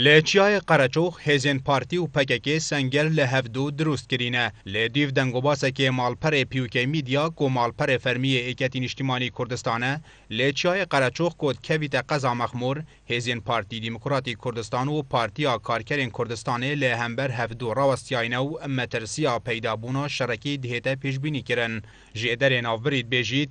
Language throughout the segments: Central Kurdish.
لە چیای قەرەچوخ هێزێن پارتی و پەکەکێ سەنگەر لە هەڤدوو دروست کرینە، لە دیف دەنگوباسەکێ ماڵپەرێ پیوکەی میدیا کو ماڵپەرێ فەرمیێ ئێکەتی نیشتیمانی کوردستانە لە چیای قەرەچوخ کۆت کەڤیتە قەزا مەخموور، هێزێن پارتی دیموکراتی کوردستان و پارتیا کارکەرێن کوردستانێ لە هەمبەر هەڤدوو راوەستیاینە و مەترسیا پەیدا بوونا شەرەکی دهێتە پێشبینی کرن ژێ دەرێ ناوبرید بێژیت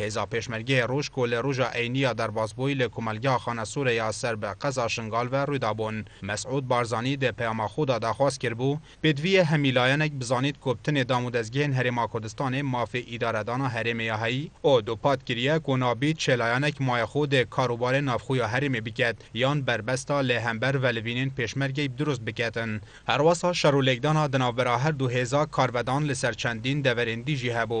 هێزا پێشمەرگەێ ڕووژ کۆ لە ڕووژا ئەینیا دەرباز بوی لە کومەلگا خانە سورەیا سەر بە قەزا شنگال ڤە ڕوودا بون. مەسعود بارزانی دە پەیاما خو دا داخواز کرد بو، پێدڤیە هەمی لایەنەک بزانید کۆ بتنێ دامودەزگەێن هەرێما کوردستانێ مافێ ئیدارە دانا هەرێمێ یا هەی، ئۆ دوپات کریە کۆ نابید چێ لایەنەک ماێ خو دە کار و بارێ ناڤخویا هەرێمێ بکەت یان بەربەستا لە هەمبەر ڤە لڤینێن پێشمەرگەی بدروست بکەتن. هەروەسا شەر و لێکدانا دناڤبرا هەر دو هێزا کارڤەدان لە سەر چەندین دەڤەرێن دی ژی هەبو،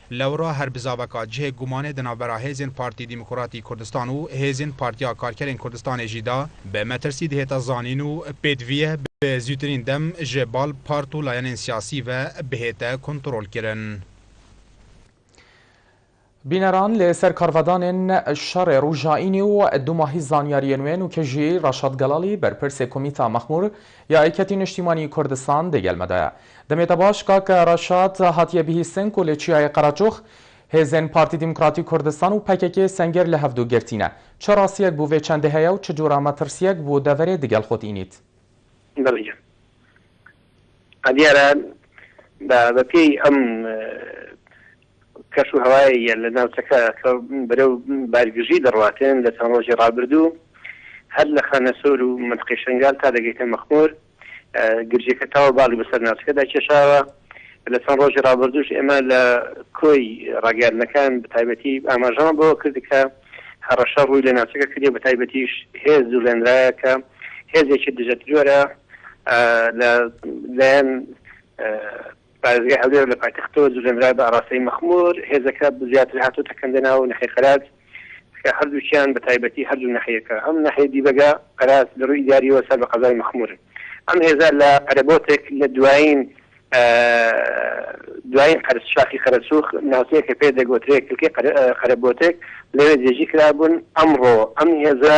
لەوڕا هەر بزاڤەکا جهێ گومانێ دە ناوبەرا هێزێن پارتی دیموکڕاتی کوردستان و هێزێن پارتیا کارکەرێن کوردستانێ ژی دا بە مەترسی دهێتە زانین و پێدڤیه بە زووترین دەم ژێ باڵ پارت و لایەنێن سیاسی ڤە بهێتە کونتڕۆڵ کرن. بینەران لە سەر کارڤەدانێن شەڕێ رووژائینی و دوماهی زانیاریێ نوێ نوکەژیی رەشاد گەڵاڵی بەرپرسێ کومیتا مەخموور یا ئەیکەتی نشتیمانی کوردستان دەیگەلمەدایە. دەمێتە باش کاکە رەشاد هاتیە بهیستن کۆلێ چیایە قەراچۆخ هێزێن پارتی دیموکراتی کوردستان و پەکەکێ سەنگێر لە هەڤدوو گرتینە چ راسیەک بووێ چەند دەهەیە و چ جورا مەترسیەک بوو دەڤەرێ دگەل خۆت ئینیت. بەڵێ گیان ئا دیارە بە بە پێی ئەم کەش و هەوای یە لە ناوچەکە کە بەرەو بارگژی دەڕواتێن لە چەند رۆژی رابردوو هەر لە خانەسۆر و مەنتقەی شەنگال تا دەگەیتە مەخمور گرژییەکە تاوە باڵی بەسەر ناوچەکەدا کێشاوە، لە چەند ڕۆژی ڕابردووش ئێمە لە کۆی ڕاگەیاندنەکان بەتایبەتی ئاماژەمان بەوە کرد کە هەڕەشە ڕووی لە ناوچەکە کردیە، بەتایبەتیش هێز جوڵێنرایە کە هێزێکی دژەترۆرە لە لایەن پارێزگای هەولێر لە پایتەختەوە جوڵێنرا بە ئاراستەی مەخمور، هێزەکە بزیاتر هاتۆتە کەندەناو ناحیەی قەراج کە هەردووکیان بە تایبەتی هەردوو ناحیەکە ئەم ناحیەی دیبەگە قەراج لە رووی ئیداریەوە سەر بە قەزای مەخمورن ئەم هێزە لە پەرەبۆتێک لە دوایین دوایین قەرس شاخی قەرەسووخ ناوچەیەک کە پێ دەگۆترێ کلکەی قەرەبۆتێک لەوێ جێژی کرابوون ئەمڕۆ ئەم هێزە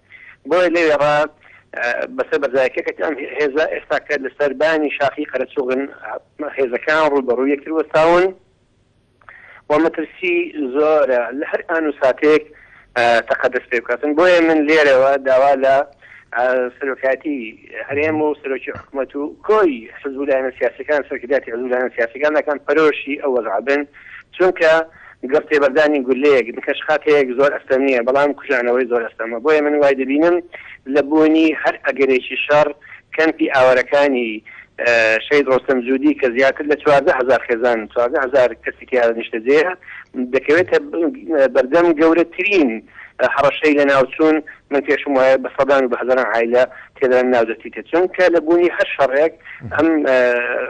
بۆیە لەوێڕا بەسەر بەرزایەکەکەتی ئەم هێزە ئێستا کە لە سەربانی شاخی قەرەچوغن هێزەکان ڕووبەڕوو یەکتر وەستاون و مەترسی زۆرە لە هەر ئان و ساتێک تەقەدەست پێ بکاتن بۆیە من لێرەوە داوا لە سەرۆکاتی هەرێم و سەرۆکی حکوومەت و کۆی حزبولایەنە سیاسەکان سەرکرداتی حزبولایەنە سیاسەکان دەکەن پەرۆشی ئەوەزعبن چونکە گەر تێبەردانی گولەیەک لە پێشهاتەیەک زۆر ئەستەم نییە، بەڵام کوژانەوەی زۆر ئەستەمە. بۆیە من وای دەبینم لە بوونی هەر ئەگەرێکی شەڕ، کەمپی ئاوارەکانی شەهید ڕۆستەم جودی کە زیاتر لە چواردە هەزار خێزان، چواردە هەزار کەسی تیادا نیشتەجێیە، دەکەوێتە بەردەم گەورەترین هەڕەشەی لەناوچوون. من پێشم وایە بە سەدان و بە هەزاران عایلە تێدان ناودەچیتە چۆنکە لە بوونی هەر شەڕێک ئەم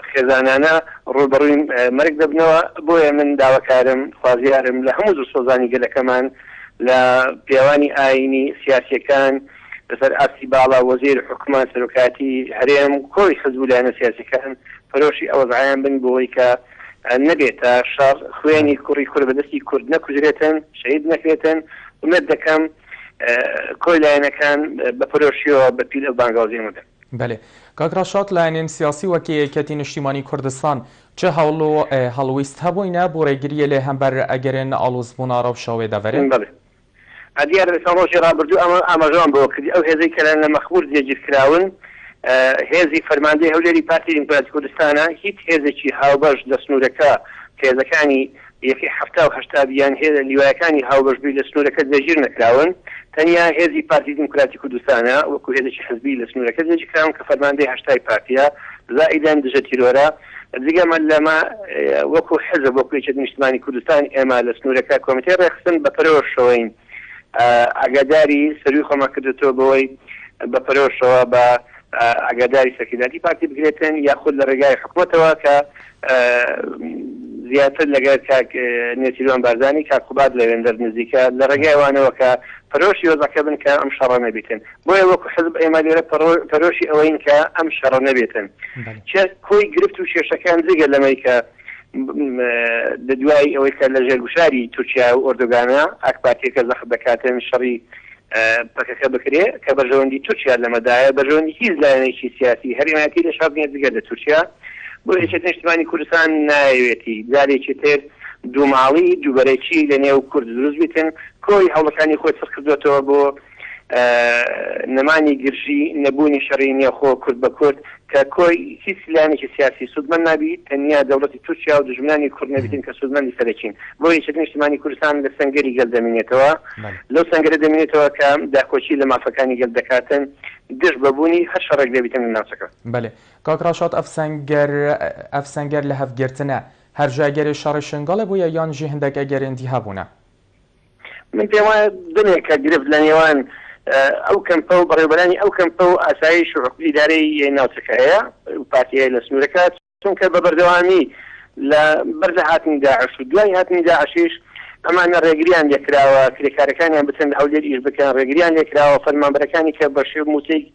خێزانانە ڕووبەڕووی مەرگ دەبنەوە بۆیە من داواکارم خوازیارم لە هەموو دڵسۆزانی گەلەکەمان لە پیاوانی ئاینی سیاسیەکان لەسەر ئاستی باڵا وەزیر حکومان سەرۆکایەتی هەرێم کۆی حزب و لایەنە سیاسیەکان پەرۆشی ئەوەزعیان بن بۆوەی کە نەبێتە شەڕ خوێنی کوڕی کورد بەدەستی کورد نەکوژرێتن شەهید نەکرێتن ئومێد دەکەم کۆی لایەنەکان بە پەرۆشیەوە بە پیر ئەو بانگەوازەیان وەدەن. بەلێ کاک رەشاد لایەنێن سیاسی وەک یەکێتی نیشتیمانی کوردستان چ هەوڵ و هەڵویست هەبوینە بو رێگریێ لێ هەمبەر ئەگەرێن ئاڵوزبونا رەوشەوێ دەڤەرێ؟ بەلێ دیارە لە چەند رۆژی رابردو ئەمە ئاماژەمان بەوە کردی ئەو هێزەی کە لە مەخمور جێگیر کراون هێزی فەرماندەی هەولێری پارتی دیموکراتی کوردستانە هیچ هێزێکی هاوبەش لە سنورەکە کە هێزەکانی یەکەی حەفتا و هەشتا یان هێزە لیوایەکانی هاوبەشبووی لە سنوورەکە جێگیر نەکراون، تەنیا هێزی پارتی دیموکراتی کوردستانە وەکو هێزێکی حزبی لە سنوورەکە جێگیر کراون کە فەرماندەی هەشتای پارتییە، زائیدەن دژە تیرۆرە، جگە لەمە وەکو حزب وەکو یەکێتی نیشتمانی کوردستان ئێمە لە سنوورەکە کۆمیتەی ڕێکخستن بە پەرۆشەوەین ئاگاداری سەرووی خۆمان کردۆتەوە بەوەی بە پەرۆشەوە بە ئاگاداری سەرکردایەتی پارتی بگرێتن یاخود لە ڕێگای حکومەتەوە کە زیاتر لەگەر کاک نێچیروان بارزانی کاک قوباد لەوێندەر نزیکە لە ڕێگای ئەوانەوە کە پەرۆشی وەزعەکە بن کە ئەم شەڕە نەبیتن بۆیە وەکو حزب ئێمە لێرە پەرۆشی ئەوەین کە ئەم شەڕە نەبێتن چ کۆی گرفت و کێشەکان جگە لەمەی کە لە دوای ئەوەی کە لە ژێر گوشاری تورکیا و ئۆردوگانە ئاکپارتیەکە زەخت دەکاتن شەڕی پەکەکە بکرێ کە بەرژەوەندی تورکیا لەمەدایە بەرژەوەندی هیچ لایەنێکی سیاسی هەرێم هەیەتی لە شەڕ نیە جگە لە تورکیا بۆ یەکێتی نیشتمانی کوردستان نایەوێتی جارێکی تر دووماڵی دووبەرەکی لە نێو کورد دروست بیتن کۆی هەوڵەکانی خۆی سڕ کردۆتەوە بۆ نەمانی گرژی نەبوونی شەڕی نێوخۆ کورد بە کورد کە کۆی هیچ لایەنێکی سیاسی سوودمەند نابیت، تەنیا دەوڵەتی تورکیا و دوژمنانی کورد نەبیتن کە سوودمەندی سەرەکین. بۆ یەکێتی نیشتمانی کوردستان لە سەنگەری گەل دەمینێتەوە، لەو سەنگەرە دەمینێتەوە کە داکۆکی لە مافەکانی گەل دەکاتن دژ بە بوونی هەر شەڕێک دەبیتن لە ناوچەکە. بەلێ کاک ڕەشاد ئەف سەنگەر ئەف سەنگەر لە هەف گرتنە هەر ژە ئەگەرێ شەڕێ شنگەڵێ بویە یان ژی هندەک ئەگەرێن دی هەبوونە؟ من پێم وایە دەمێکە گرفت لە نێوان ئەو کەمپە و بەڕێوبەرانی ئەو کەمپە و ئاسایش و ئیدارەی ناوچەکە هەیە و پارتی هەیە لە سنوورەکە چونکە بە بەردەوامی لە بەر لە هاتنی داعش و دوای هاتنی داعشیش ئەمانە ڕێگریان لێکراوە کرێکارەکانیان بچن لە هەولێر ئیش بکەن ڕێگریان لێکراوە فەرمانبەرەکانی کە بە شێو موچەی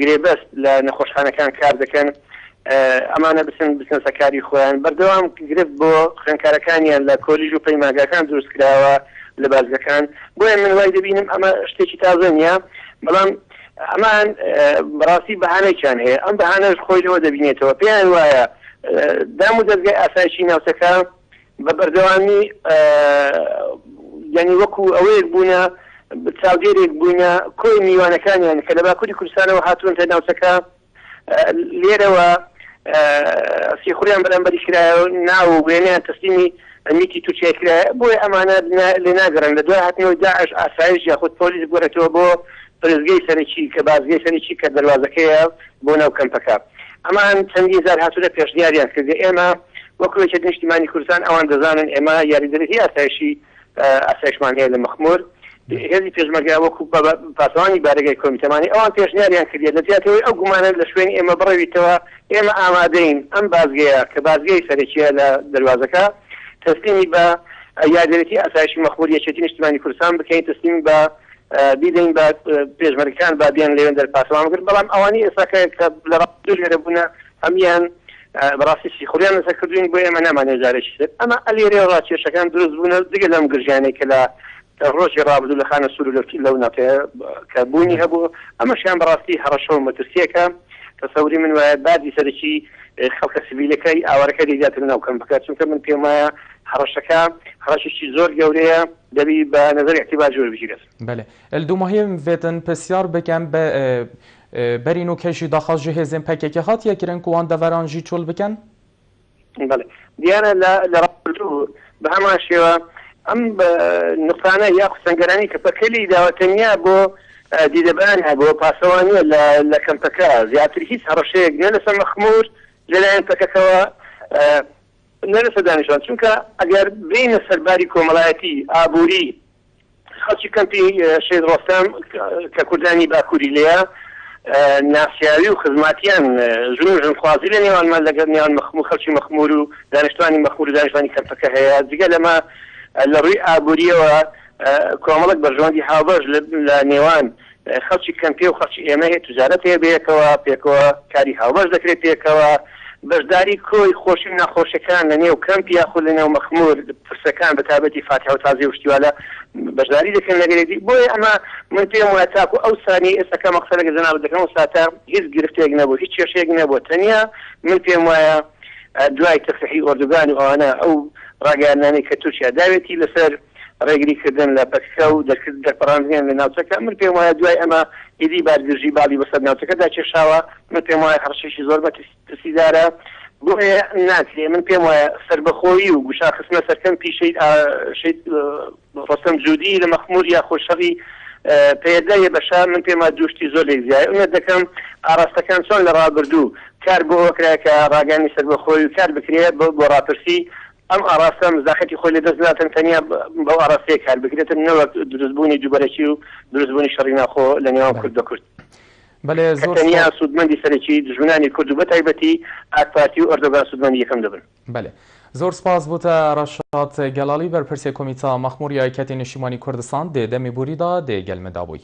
گرێبەست لە نەخۆشخانەکان کار دەکەن ئەمانە بچن بزنسە کاری خۆیان بەردەوام گرفت بۆ خوێنکارەکانیان لە کۆلیژ و پەیماگاکان دروست کراوە لە بازگەکان بۆیە من وای دەبینم ئەمە شتێکی تازە نیە بەڵام ئەمان بەڕاستی بەهانێکیان هەیە ئەم بەهانەش خۆی لەوە دەبینێتەوە پێیان وایە دام و دەستگای ئاسایشی ناوچەکە بە بەردەوامی یانی وەکو ئەوەیەک بوونە چاودێرێک بووینە کۆی میوانەکانیان کە لە باکووری کوردستانەوە هاتوونتە ناوچەکە لێرەوە سیخوریان بەرامبەری کرایە ناو وێنیان تەسلیمی ئەمیتی تورکیا کرایە بۆیە ئەمانە لێ ناگەڕن لە دوای هاتنەوەی داعش ئاسایش یاخود پۆلیس گۆرەتەوە بۆ پرسگەی سەرەکی کە بازگەی سەرەکی کە دەروازەکەیە بۆ ناو کەمپەکە ئەمان چەندین جار هاتوونە پێشنیاریان کردیە ئێمە وەکو یەکێتی نیشتیمانی کوردستان ئەوان دەزانن ئێمە یاریدەدی ئاسایشی ئاسایشمان هەیە لە مەخمور هێزی پێشمەرگە وەکو پاسەوانی بارەگای کۆمیتەمانی ئەوان پێشنیاریان کردیە لە جیاتەوەی ئەو گومانە لە شوێنی ئێمە بڕەویتەوە ئێمە ئامادەین ئەم بازگەیە کە بازگەی سەرەکیە لە دەروازەکە تەسلیمی بە یاریدەدی ئاسایشی مەخمور یەکێتی نیشتیمانی کوردستان بکەین تەسلیم بە بیدەین بە پێشمەرگەکان با بیان لەوێن دەرپاسەوان بگرن بەڵام ئەوانی ئێستا کە لە ڕاست دوو لێرە بوونە هەمیان بەڕاستی سیخوریان لەسەر کردوین بۆ ئێمە نامانێ جارێکی تر ئەمە ئەلێرێ ڕاکێشەکان دروست بوونە دیگە لەم گرژیانەی کە لە ڕۆژی ڕابدو لە خانە سوور لەکی لەو ناکە کە بوونی هەبوو ئەمەشیان بەڕاستی هەڕەشە و مەترسیەکە تەسەوری من وایە بادی سەرکی خەڵکە سبیلەکەی ئاوارەکە دیاتر ناوکەم بکات چونکە من پێمایە هەڕەشەکە هەڕەشێکی زۆر گەورەیە دەبی بە نەزەر ئیعتیبار جوور بگیرێت. بەلی ال دو مهم وێتن پسیار بکەم بە بەرین و کەشی داخاز جی هێزێن پەکەکە هاتیە کرن کو وان دەڤەران جی چۆل بکەن؟ بەلی دیارە لە لە رابردوو بە هەمان شێوە ئەم نقطانە یاخود سەنگەرانەی کە پەکەکە لێی داوە تەنیا بۆ دیدەبان هەبووە پاسەوانیە لە لە کەمپەکە زیاتر هیچ هەڕەشەیەک نە لەسەر مەخمور لەلایەن پەکەکەوە نە لەسەر دانیشتوان، چونکە ئەگەر بێینە سەر باری کۆمەڵایەتی، ئابووری، خەڵکی کەمپی شەهید ڕۆستەم کە کوردانی باکووری لێیە ناسیاوی و خزماتیان ژن و ژنخوازی لە نێوانمان لەگەڵ نێوان مەخموور خەڵکی مەخموور و دانیشتوانی مەخموور و دانیشتوانی کەمپەکە هەیە، جگە لەمە لە ڕووی ئابوورییەوە کۆمەڵێک بەرژەوەندی هاوبەش لە نێوان خەڵکی کەمپێ و خەڵکی ئێمە هەیە تجارەت هەیە بەیەکەوە پێکەوە کاری هاوبەش دەکرێت پێکەوە بەشداری کۆی خۆشی و ناخۆشیەکان لە نێو کەمپ یاخود لە نێو مەخمور پرسەکان بە تابەتی فاتح و تازی وشتیوالە بەشداری دەکەن لەگەرێتی بۆیە ئەمە من پێم وە تاکو ئەو سانی ئێسەکە مەقسە لەگە جەناب دەکەم و ساتە هیچ گرفتێک نەبوو هیچ کێشێک نەبوو تەنیا من پێم وایە دوای تەسحی ئۆردوگان و ئەوانە ئەو ڕاگەیاننامەی کە تورکیا داوێتی لەسەر ڕێگریکردن لە پەککە و دەرکردن دەرپەڕاندنیان لە ناوچەکە، من پێم وایە دوای ئەمە ئیدی بار گرژی باڵی بەسەر ناوچەکەدا کێشاوە، من پێم وایە هەڕەشەیەکی زۆر مەترسیدارە، بۆیە ناکرێ، من پێم وایە سەربەخۆیی و گوشار خستنە سەر کەمپی شەهید شەهید ڕۆستەم جودی لە مەخمور یا خۆ شەڕی پەیەدە یە بەشار، من پێم وایە دوو شتی زۆر لێک جیایە، ئومێد دەکەم ئاڕاستەکان چۆن لە ڕابردوو کار بۆ ئەوە کرا کە ڕاگەیاندنی سەربەخۆیی و کار بکرێ بۆ ڕاپرسی ئەم ئاڕاستە مزاخەتی خۆی لە دەست ناتەن تەنیا بەو ئاڕاستەیە کار بگرێتن نەوەک دروست بوونی دووبەرەکی و دروست بوونی شەڕی ناوخۆ لە نێوان کورد بە کورد کە تەنیا سوودمەندی سەرەکی دوژمنانی کورد و بە تایبەتی ئاک پارتی و ئەردۆگان سوودمەندی یەکەم دەبن. بەلێ زۆر سپاس بۆتە رەشاد گەلالی بەرپرسێ کومیتا مەخمور یای کەتی نشیمانی کوردستان دێ دەمی بوری دا دێ گەلمە دابوی.